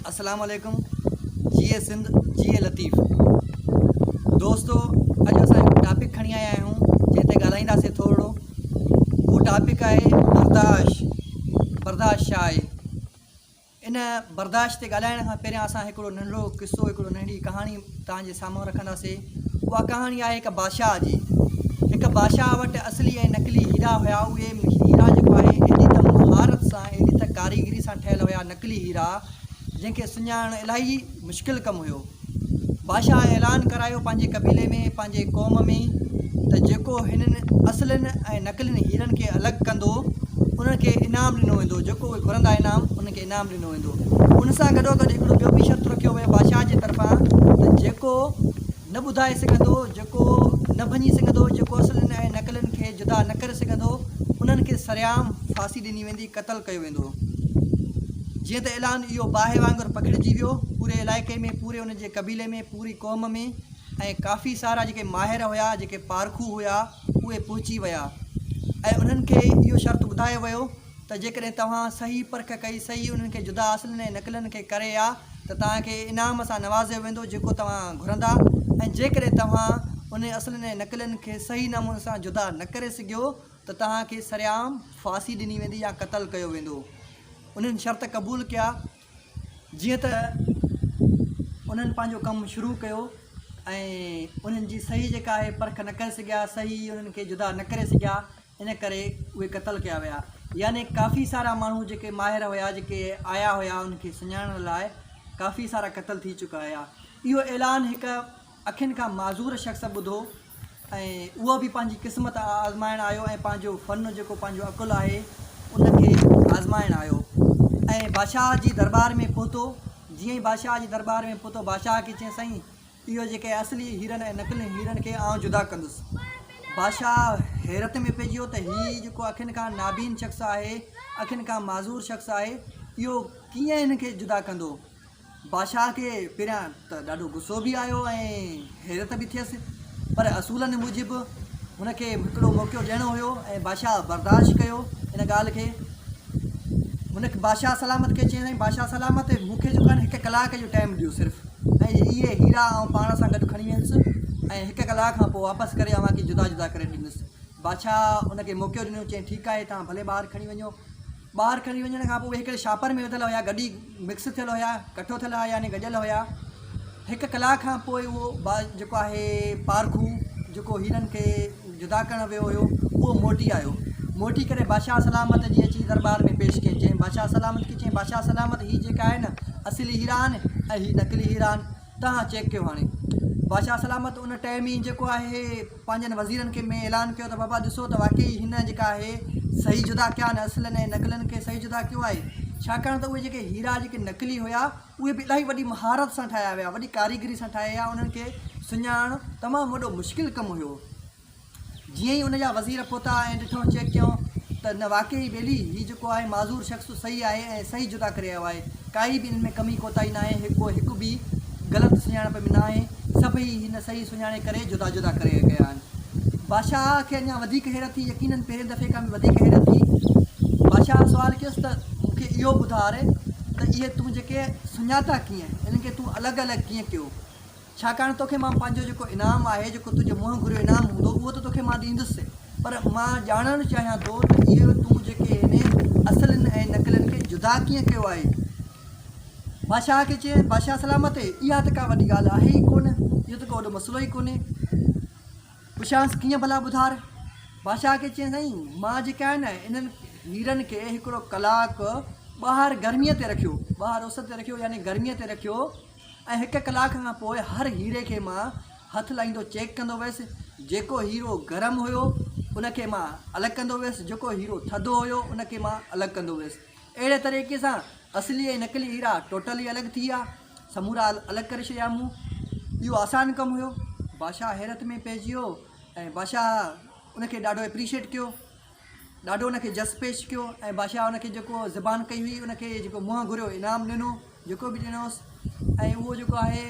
السلام عليڪم جي اي سنڌ جي اي لطيف دوستو اڄ اسان هڪ ٽاپڪ کڻي آيا آهيون جنهن تي ڳالهائينداسي ٿورڙو هو ٽاپڪ آهي برداشت برداشت شاهي ان برداشت تي ڳالهائڻ کان پهريان اسان هڪڙو ننڍڙو قصو هڪڙو ننڍڙي ڪهاڻي توهان جي سامهون رکنداسين اها ڪهاڻي آهي هڪ بادشاهه جي هڪ بادشاهه وٽ اصلي ۽ نقلي هيرا هيا اهي هيرا جيڪو آهي ايڏي ته مهارت سان ايڏي ته ڪاريگري سان ٺهيل هيا نقلي هيرا جنهن کي سڃاڻڻ الاهي مشڪل ڪم هيو بادشاهه اعلان ڪرايو پنهنجي قبيلي ۾، پنهنجي قوم ۾، ته جيڪو هنن اصلين ۽ نقلين هيرن کي الڳ ڪندو، انهن کي انعام ڏنو ويندو، جيڪو اهي گهرندا انعام، انهن کي انعام ڏنو ويندو. ان سان گڏوگڏ هڪڙو ٻيو به شرط رکيو ويو بادشاهه جي طرفان ته جيڪو نه ٻڌائي سگهندو، جيڪو نه ڀڃي سگهندو، جيڪو اصلين ۽ نقلين کي جدا نه ڪري سگهندو، انهن کي سرعام ڦاسي ڏني ويندي. قتل ڪيو ويندو. جيئن ته اعلان اهو باهه وانگر پکڙجي ويو، پوري علائقي ۾، پوري ان جي قبيلي ۾، پوري قوم ۾ ۽ ڪافي سارا جيڪي ماهر هيا، جيڪي پارکو هيا، اهي پهچي ويا ۽ انهن کي اهو شرط ٻڌايو ويو ته جيڪڏهن توهان صحيح پرک ڪئي، صحيح انهن کي جدا اصلن ۽ نقلن کي ڪري آ ته توهان کي انعام سان نوازيو ويندو جيڪو توهان گهرندا ۽ جيڪڏهن توهان انهن اصلن ۽ نقلن کي صحيح نموني سان جدا نه ڪري سگهيو، ته توهان کي سرعام ڦاسي ڏني ويندي يا قتل ڪيو ويندو. انهن شرط قبول ڪيا. جيئن ته انهن پنهنجو ڪم شروع ڪيو ۽ انهن جي صحيح جيڪا آهي پرک نه ڪري سگهيا، صحيح انهن کي جدا نه ڪري سگهيا، ان ڪري اهي قتل ڪيا ويا. يعني ڪافي سارا ماڻهو جيڪي ماهر هيا، جيڪي آيا هيا انهن کي سڃاڻڻ لاء، ڪافي سارا قتل ٿي چڪا هيا. اهو اعلان هڪ. اکين کان معذور شخص ٻڌو ۽ اهو به پنهنجي قسمت آزمائڻ آيو ۽ پنهنجو فن جيڪو پنهنجو عقل آهي ان کي آزمائڻ آيو ۽ بادشاهه جي درٻار ۾ پهتو جيئن ئي بادشاهه جي درٻار ۾ پهتو بادشاهه کي چيائين سائين اهو جيڪي اصلي هيرن ۽ نقلي هيرن کي آئون جدا ڪندس بادشاهه حيرت ۾ پئجي ويو ته هي جيڪو اکين کان نابين شخص آهي اکين کان معذور شخص آهي اهو ڪيئن هن کي جدا ڪندو بادشاهه کي پهريان ته ڏاڍو غصو به آيو ۽ حيرت به ٿيس، پر اصولن موجب هن کي هڪڙو موقعو ڏيڻو هيو ۽ بادشاهه برداشت ڪيو ان ڳالهه کي. هن بادشاهه سلامت کي چيائين، بادشاهه سلامت، مون کي جو ڪن هڪ ڪلاڪ جو ٽائيم ڏيو صرف ۽ اهي هيرا آئون پاڻ سان گڏ کڻي ويندس ۽ هڪ ڪلاڪ کان پوء واپس ڪري اوهان کي جدا جدا ڪري ڏيندس. بادشاهه ان کي موقعو ڏنو، چيائين، ٺيڪ آهي، توهان ڀلي ٻار کڻي وڃو. ٻار کڻي وڃڻ کان پوء اهي هڪڙي شاپر ۾ وڌل هيا، گڏي. مڪس ٿيل هيا ڪٺو ٿيل هيا يعني گڏيل هيا هڪ ڪلاڪ کان پوء اهو باز جيڪو آهي پارکو جيڪو هيرن کي جدا ڪرڻ ويو هيو اهو موٽي آيو موٽي ڪري بادشاهه سلامت جي اچي دربار ۾ پيش ڪيائين چيائين بادشاهه سلامت کي چيائين بادشاهه سلامت هي جيڪا آهي نه اصلي هيرا آهن ۽ هي نقلي هيرا آهن تان چيڪ ڪيو هاڻي بادشاهه سلامت ان ٽئين مينهن جيڪو آهي پنهنجن وزيرن کي ۾ اعلان ڪيو ته بابا ڏسو ته واقعي هن جيڪا آهي صحيح جدا ڪيا آهن اصلن ۽ نقلن کي صحيح جدا ڪيو آهي ڇاڪاڻ ته اهي جيڪي هيرا جيڪي نقلي هيا اهي به الاهي وڏي مهارت سان ٺاهيا ويا وڏي ڪاريگري سان ٺاهيا انهن کي سڃاڻڻ تمام وڏو مشڪل ڪم هيو جيئن ئي ان جا وزير پهتا ۽ ڏٺو چيڪ ڪيو ته نه واقعي ئي ٻيلي، هي جيڪو آهي معذور شخص صحيح آهي ۽ صحيح جدا ڪري آيو آهي، ڪائي به ان ۾ ڪمي ڪوتاهي ناهي، ڪو هڪ به غلط سڃاڻپ ۾ ناهي، سڀئي هن صحيح سڃاڻي ڪري جدا جدا ڪري ڪيا آهن. بادشاهه کي اڃا وڌيڪ حيرت ٿي، يقينن پهرين دفعي کان به وڌيڪ حيرت ٿي. بادشاهه سوال ڪيس ته مون کي اهو ٻڌار ته اهي تون جيڪي سڃاتا ڪيئن؟ انهن کي تون الڳ الڳ ڪيئن ڪيو؟ ڇاڪاڻ توکي مان پنهنجو جيڪو انعام آهي، جيڪو تنهنجي منهن گهريو انعام هوندو، اهو ته توکي مان ڏيندس، پر مان ڄاڻڻ چاهيان ٿو ته اهو تون جيڪي هني اصلين ۽ نقلين کي جدا ڪيئن ڪيو آهي؟ بادشاهه کي چيائين، بادشاهه سلامت، اها ته ڪا وڏي ڳالهه آهي ئي ڪونه، اهو ته ڪو وڏو مسئلو ئي ڪونهي. پڇيانس، ڪيئن ڀلا ٻڌار؟ بادشاهه کي چيائين، سائين، مان جيڪي آهي نه، انهن هيرن کي هڪڙو ڪلاڪ ٻاهر گرميء تي رکيو، ٻاهر اس تي رکيو، يعني گرميء تي رکيو، ۽ هڪ ڪلاڪ کان پوء هر هيري کي مان هٿ لائيندو چيڪ ڪندو ويس جيڪو هيرو گرم هيو ان کي مان الڳ ڪندو ويس جيڪو هيرو ٿڌو هيو ان کي مان الڳ ڪندو ويس اهڙي طريقي سان اصلي ۽ نقلي هيرا ٽوٽلي الڳ ٿي ويا سمورا الڳ ڪري ڇڏيا مون اهو آسان ڪم هيو بادشاهه حيرت ۾ پئجي ويو ۽ بادشاهه ان کي ڏاڍو اپريشيٽ ڪيو ڏاڍو ان کي جس پيش ڪيو ۽ بادشاهه ان کي جيڪو زبان ڪئي هئي ان کي جيڪو منهن گهريو انعام ڏنو جيڪو به ڏنوس ۽ اهو جيڪو آهي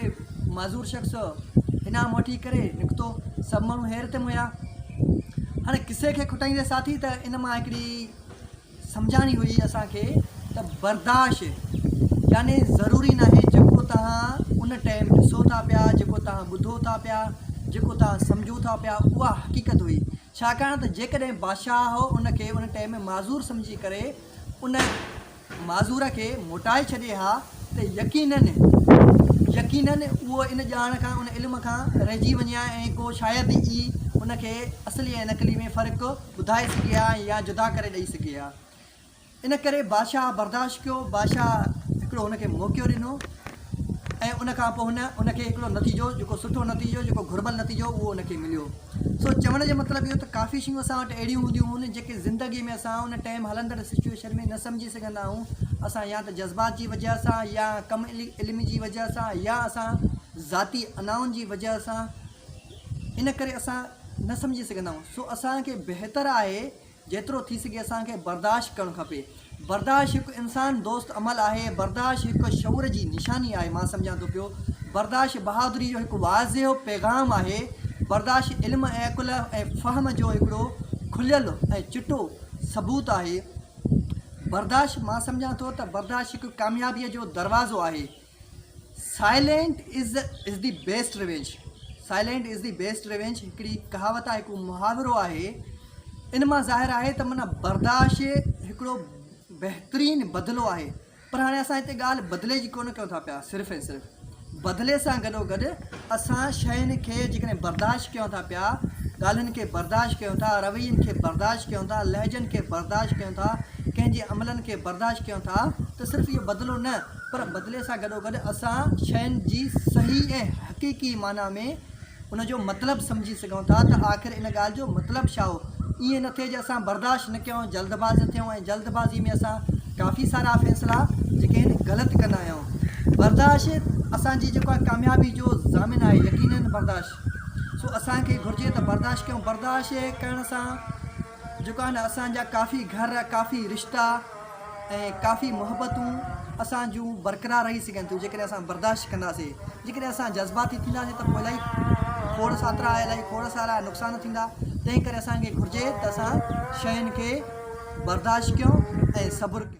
معذور شخص انعام وٺي ڪري نڪتو سڀ ماڻهو حيرت ۾ هيا هاڻي قصي کي کٽائيندي ساٿي ته ان مان هڪڙي سمجھاڻي هئي اسانکي ته برداشت يعني ضروري نه آهي جيڪو توهان ان ٽائم ڏسو ٿا پيا جيڪو توهان ٻڌو ٿا پيا جيڪو توهان سمجھو ٿا پيا اها حقيقت هئي ڇاڪاڻ ته جيڪڏهن بادشاهه ان کي ان ٽئيم معذور سمجهي ڪري ان معذور کي موٽائي ڇڏي ها ته يقيناً يقيناً اهو ان ڄاڻ کان ان علم کان رهجي وڃي ها ۽ ڪو شايد ئي ان کي اصلي ۽ نقلي ۾ فرق ٻڌائي سگهي ها يا جدا ڪري ڏئي سگهي ها. ان ڪري بادشاهه برداشت ڪيو. بادشاهه هڪڙو هن کي موقعو ڏنو ۽ ان کان پوء هن ان کي هڪڙو نتيجو جيڪو سٺو نتيجو جيڪو گهربل نتيجو اهو ان کي مليو. سو چوڻ جو مطلب اهو ته ڪافي شيون اسان وٽ اهڙيون هونديون هون جيڪي زندگي ۾ اسان ان ٽائيم هلندڙ سچوئيشن ۾ نه سمجهي سگهندا آهيون. اسان يا ته جذبات جي وجهه سان يا ڪم علم جي وجهه سان يا اسان ذاتي انائن جي وجهه سان ان ڪري اسان نه سمجهي سگهندا آهيون. سو اسان کي بهتر آهي جيترو ٿي سگهي اسان کي برداشت ڪرڻ کپي. برداشت هڪ انسان دوست عمل آهي. برداشت هڪ شعور جي نشاني آهي. مان سمجهان ٿو پيو برداشت بهادري جو هڪ واضح پيغام آهي. برداشت علم ۽ عقل ۽ فهم جو هڪڙو کليل ۽ چٽو ثبوت آهي. برداشت مان سمجهان ٿو ته برداشت هڪ ڪاميابيء جو دروازو آهي. Silent is is the best revenge Silent is the best revenge هڪڙي ڪهاوت آهي هڪڙو محاورو آهي ان مان ظاهر آهي ته معنيٰ برداشت هڪڙو بهترين بدلو آهي پر هاڻي اسان هتي ڳالهه بدلي جي ڪونه ڪيون ٿا پيا صرف ۽ صرف بدلي سان گڏو گڏ اسان شين کي جيڪڏهن برداشت ڪيون ٿا پيا ڳالهين کي برداشت ڪيون ٿا روين کي برداشت ڪيون ٿا لهجن کي برداشت ڪيون ٿا ڪنهن جي عملن کي برداشت ڪيون ٿا ته صرف اهو بدلو نه پر بدلي سان گڏوگڏ اسان شين جي صحيح ۽ حقيقي معنيٰ ۾ ان جو مطلب سمجهي سگهون ٿا ته آخر ان ڳالهه جو مطلب ڇا هو. ائين نه ٿئي جو اسان برداشت نه ڪيون، جلدباز نه ٿيون ۽ جلدبازي ۾ اسان ڪافي سارا فيصلا جيڪي آهن غلط ڪندا آهيون. برداشت اسان جي جيڪو آهي ڪاميابي جو ضامن آهي، يقينن برداشت. سو اسان کي گهرجي ته برداشت ڪيون. برداشت ڪرڻ سان. جيڪو آهن اسان جا ڪافي گهر ڪافي رشتا ۽ ڪافي محبتون اسان جون برقرار رهي سگهن ٿيون جيڪڏهن اسان برداشت ڪنداسي جيڪڏهن اسان جذباتي ٿينداسي ته پوء الائي کوڙ ساترا الائي کوڙ سارا نقصان ٿيندا تنهن ڪري اسان کي گهرجي ته اسان شين کي برداشت ڪيون ۽ صبر ڪيون.